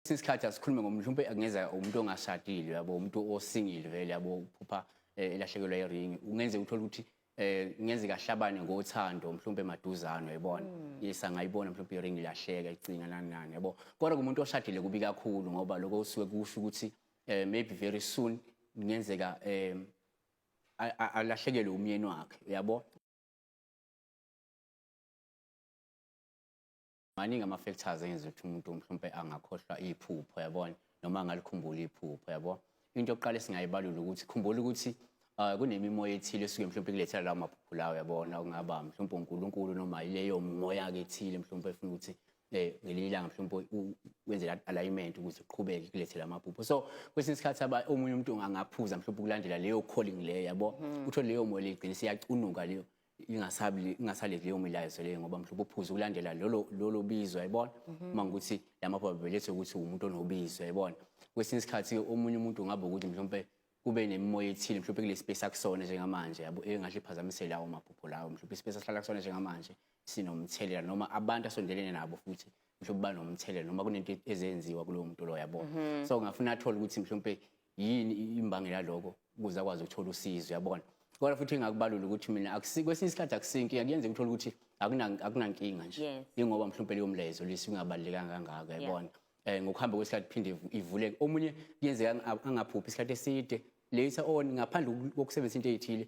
Kwesinye isikhathi asikhulume ngomuntu mhlawumbe kungeza umuntu ongashadile yabo umuntu osingile vele yabo uphupha eh, elahlekelwa iringi ungenzeka uthole ukuthi eh ngenzeka ahlabane ngothando mhlawumbe emaduzane uyabona hmm. yes angayibona mhlawumbe iringi lahleka icinga nani nani yabo kodwa kumuntu oshadile kubi kakhulu ngoba lokho usuke kusho ukuthi eh, maybe very soon ngenzeka eh alahlekelwe umyeni wakhe uyabo maningi ama-factors engenza ukuthi umuntu mhlawumpe angakhohlwa iphupho yabona noma angalikhumbula iphupho yabo into yokuqala esingayibalula ukuthi khumbula ukuthi uh, kunemimoya ethile esuke mhlawumpe kulethela lawo maphupho lawo yabona okungaba mhlawumpe unkulunkulu noma yileyo moya-ke ethile mhlawumpe efuna ukuthi eh, ngelinye ilanga mhlawumpe wenze alignment ukuthi uqhubeke kulethela amaphupho so kwesinye isikhathi omunye umuntu angaphuza mhlawumpe ukulandela leyo calling leyo yabo mm. uthole leyo moya legcine seyacunuka leyo ingasabi ingasaleki leyo milayezo leyo ngoba mhlawumbe uphuze ukulandela lolo lolo bizo yayibona mhm. uma ukuthi lamapha belethe ukuthi umuntu onobizo yayibona kwesinye isikhathi omunye umuntu ungaba ukuthi mhlawumbe kube nemimoya ethile mhlawumbe kule space akusona njengamanje yabo engahle iphazamise lawo maphupho lawo mhlawumbe ispace asihlala kusona njengamanje sinomthelela noma abantu asondelene nabo futhi mhlawumbe banomthelela noma kunento ezenziwa kulowo muntu loyo yabona mhm. so ngafuna athole ukuthi mhlawumbe yini imbangela yaloko ukuze akwazi ukuthola usizo yabona kodwa futhi engakubalula ukuthi mina kwesinye isikhathi akusinki kuyenzeka uthole ukuthi akunankinga nje ingoba mhlawumpe leyo mlezo lisingabalulekanga kangako yabona um ngokuhamba kwesikhathi phinde ivuleke omunye kuyenzeka angaphuphi isikhathi eside later on ngaphandle kokusebenzisa into eyithile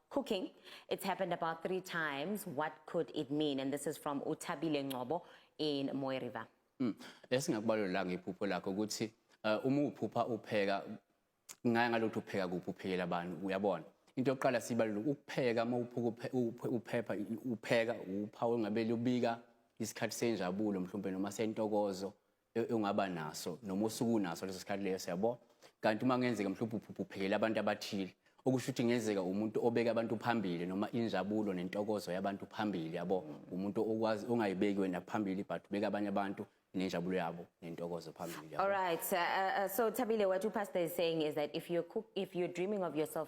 Cooking, it's happened about three times. What could it mean? And this is from Utabile Ngobo in Moe River. Mm. Esingakubalula ngephupho lakho ukuthi eh, uma uphupha upheka ngaya ngalokho upheka kuphi uphekela abantu uyabona into yokuqala sibalula ukupheka uma uphuka uphepha upheka uphawu engabeli ubika isikhathi senjabulo mhlawumbe noma sentokozo e-, ongaba naso noma osukunaso leso sikhathi leyo siyabo kanti uma kungenzeka mhlawumbe uphuphele abantu abathile okusho ukuthi ngenzeka umuntu obeka abantu phambili noma injabulo nentokozo yabantu phambili yabo umuntu okwazi ongayibeki wena phambili but ubeka abanye abantu nenjabulo yabo nentokozo phambili yabo all right uh, uh, so Thabile what you pastor is saying is that if you're cook, if you're dreaming of yourself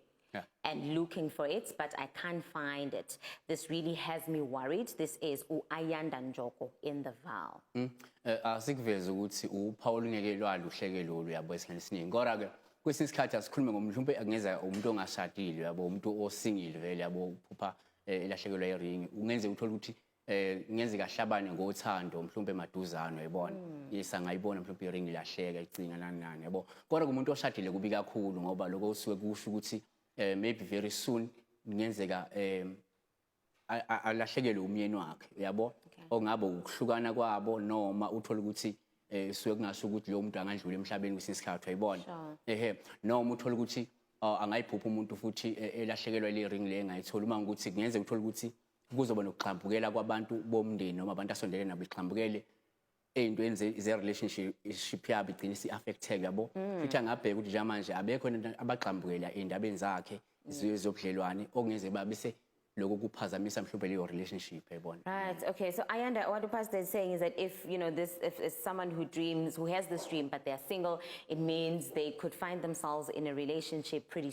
Yeah. and looking for it, but I can't find it. This really has me worried. This is uAyanda Njoko in the Val. Mm. Eh, asikuveze ukuthi uphawu olungeke lwaluhleke lolu yabo esikhathi esiningi kodwa ke kwesinye isikhathi asikhulume ngomuntu mhlawumbe kungeza umuntu ongashadile yabo umuntu osingile vele yabo uphupha eh, elahlekelwa iringi kungenzeka uthole ukuthi eh ngenzeka hlabane ngothando mhlumbe maduzano yabona mm. yes angayibona mhlumbe iring ilahleka icinga nani nani yabo kodwa kumuntu oshadile kubi kakhulu ngoba lokho usuke kusho ukuthi eh, maybe very soon ngenzeka eh alahlekelwe umyeni wakhe yabo ongabe ukuhlukana kwabo noma uthola ukuthi eh suke kungasho ukuthi lo muntu angandlula emhlabeni kwesinye isikhathi uyibona ehe noma uthola ukuthi ah, angayiphupha umuntu futhi eh, elahlekelwa le ring le engayithola uma ukuthi kungenzeka uthola ukuthi kuzoba nokugxambukela kwabantu bomndeni noma abantu asondele nabo igxambukele ey'ntweni ze-relationship yabo igcine isi-affecteke yabo mm. futhi angabheka ukuthi njengamanje abekho abagxambukela ey'ndabeni zakhe zobudlelwane okungeze babise lokho kuphazamisa mhlawumbe leyo relationship yayibona right okay so i under what the pastor is saying is that if you know this if, if someone who dreams who has this dream but they are single it means they could find themselves in a relationship pretty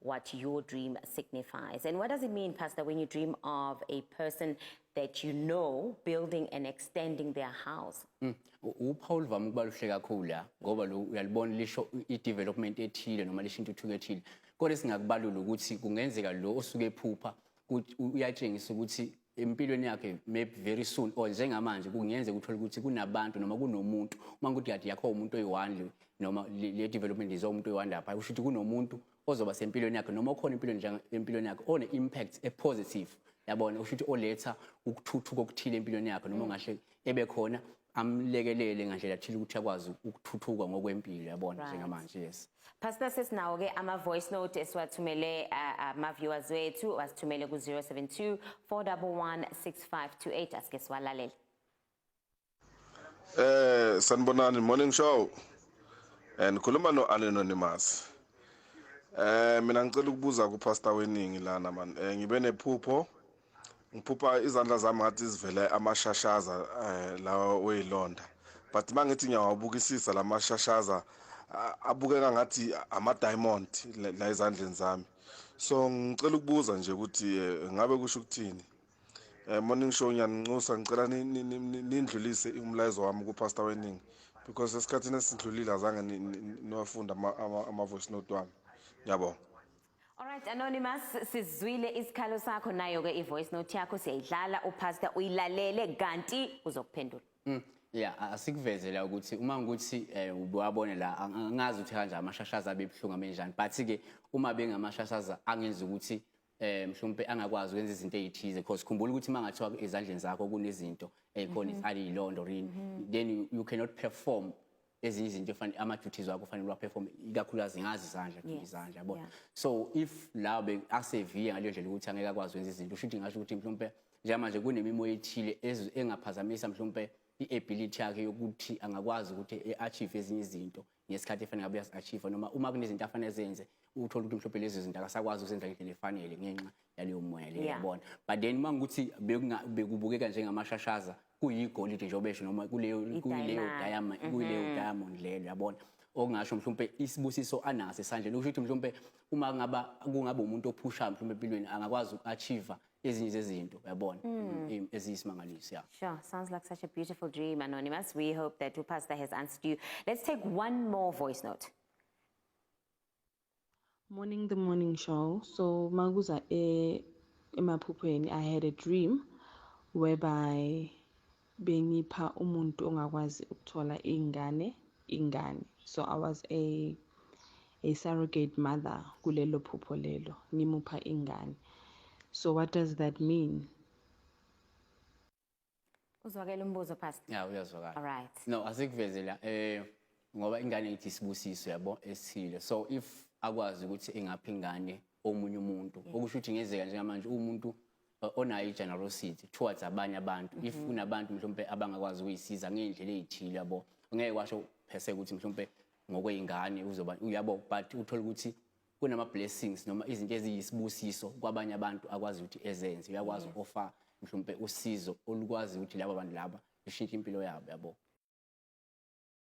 what your dream signifies. And what does it mean, Pastor, when you dream of a person that you know building and extending their house? Mm. uphawu oluvame ukuba luhle kakhulu la ngoba lo uyalibona lisho i-development ethile noma lisho intuthuko ethile kodwa esingakubalula ukuthi kungenzeka lo osuke ephupha uyatshengisa ukuthi empilweni yakhe maybe very soon or njengamanje kungenzeka uthole ukuthi kunabantu noma kunomuntu uma ukuthi kade yakho umuntu oyiwandle noma le development izo umuntu oyiwandle lapha usho ukuthi kunomuntu ozoba sempilweni yakhe noma okhona empilweni njenge empilweni yakhe one impact e positive yabona usho ukuthi oletha ukuthuthuka okuthile empilweni yakhe noma ungahle ebe khona amlekelele ngandlela thile ukuthi akwazi ukuthuthuka ngokwempilo yabona Right. njengamanje yes Pastor sesinawo ke ama voice note esiwathumele uh, ama viewers wethu wasithumele ku 072 411 6528 asike siwalalele. Eh sanibonani morning show. Eh nikhuluma no anonymous. Eh mina ngicela ukubuza ku pastor weningi lana man. Eh ngibe nephupho ngiphupha izandla zami ngathi zivele amashashaza eh, lawa oyilonda but uma ngithi ngiyawabukisisa la mashashaza abukeka ngathi ama-diamond la ezandleni zami so ngicela ukubuza nje ukuthi eh, ngabe kusho ukuthini um morning show ngiyanincusa ngicela nindlulise umlayezo wami kupastor weningi because esikhathini esidlulile azange niwafunde ama-voice note wami ngiyabonga Alright Anonymous sizwile isikhalo sakho nayo ke ivoice note yakho siyayidlala upastor uyilalele kanti uzokuphendula. Mm. Yeah asikuvezele ukuthi uma ngikuthi eh, ubewabone la angazi ukuthi kanjani amashashaza abebuhlungu abenjani but ke uma bengamashashaza angenza ukuthi eh mhlawumbe angakwazi ukwenza izinto ezithize because khumbula ukuthi mangathiwa ezandleni zakho kunezinto ezikhona mhm. izali ilondo rini mhm. then you cannot perform ezinye izinto efani ama duties wakho fanele wa perform ikakhulukazi ngazi izandla nje Yes, izandla yabo yeah. so if la be aseviye ngale ndlela ukuthi angeke akwazi wenza izinto usho ukuthi ngasho ukuthi mhlawumbe njengamanje kunemimoya ethile ez- engaphazamisa mhlawumbe i-ability yakhe yokuthi angakwazi ukuthi e-achieve ezinye izinto ngesikhathi efanele ngabe uyazi-achieve noma uma kunezinto afanele zenze uthole ukuthi mhlawumbe lezo zinto akasakwazi ukuzenza ngendlela efanele ngenxa yaleyo moya leyo Yeah. yabona but then uma ngikuthi bekunga- bekubukeka njengamashashaza kuyigolide njengoba esho noma kuleyo kuyileyo I-diamond. diamond kuyileyo diamond leyo yabona okungasho mhlawumbe isibusiso anaso esandleni okusho ukuthi mhlawumbe uma ngaba kungaba umuntu ophushayo mhlawumbe empilweni angakwazi uku-achieve ezinye zezinto yabona em- eziyisimangaliso ya Sure, sounds like such a beautiful dream, Anonymous. We hope that Upastor has answered you. Let's take one more voice note. Morning the morning show. So makuza e emaphuphweni I had a dream whereby bengipha umuntu ongakwazi ukuthola ingane ingane. So I was a a surrogate mother kulelo phupho lelo ngimupha ingane. So what does that mean? Uzwakela umbuzo pastor. Yeah, uyazwakala. All right. No, asikuvezela eh ngoba ingane ithi sibusiso yabo esile. So if akwazi ukuthi ingaphi ingane omunye umuntu okusho ukuthi ngezeka njengamanje umuntu uh, onayo i-generosity towards abanye abantu if mhm. kunabantu mhlawumbe abangakwazi ukuyisiza ngey'ndlela ey'thile yabo ngeke kwasho phese ukuthi mhlawumbe ngokwey'ngane uzoba uyabo but uthole ukuthi kunama blessings noma izinto eziyisibusiso kwabanye abantu akwazi ukuthi ezenze uyakwazi mm. offer mhlawumbe usizo olukwazi ukuthi laba bantu laba lishintshe impilo yabo yabo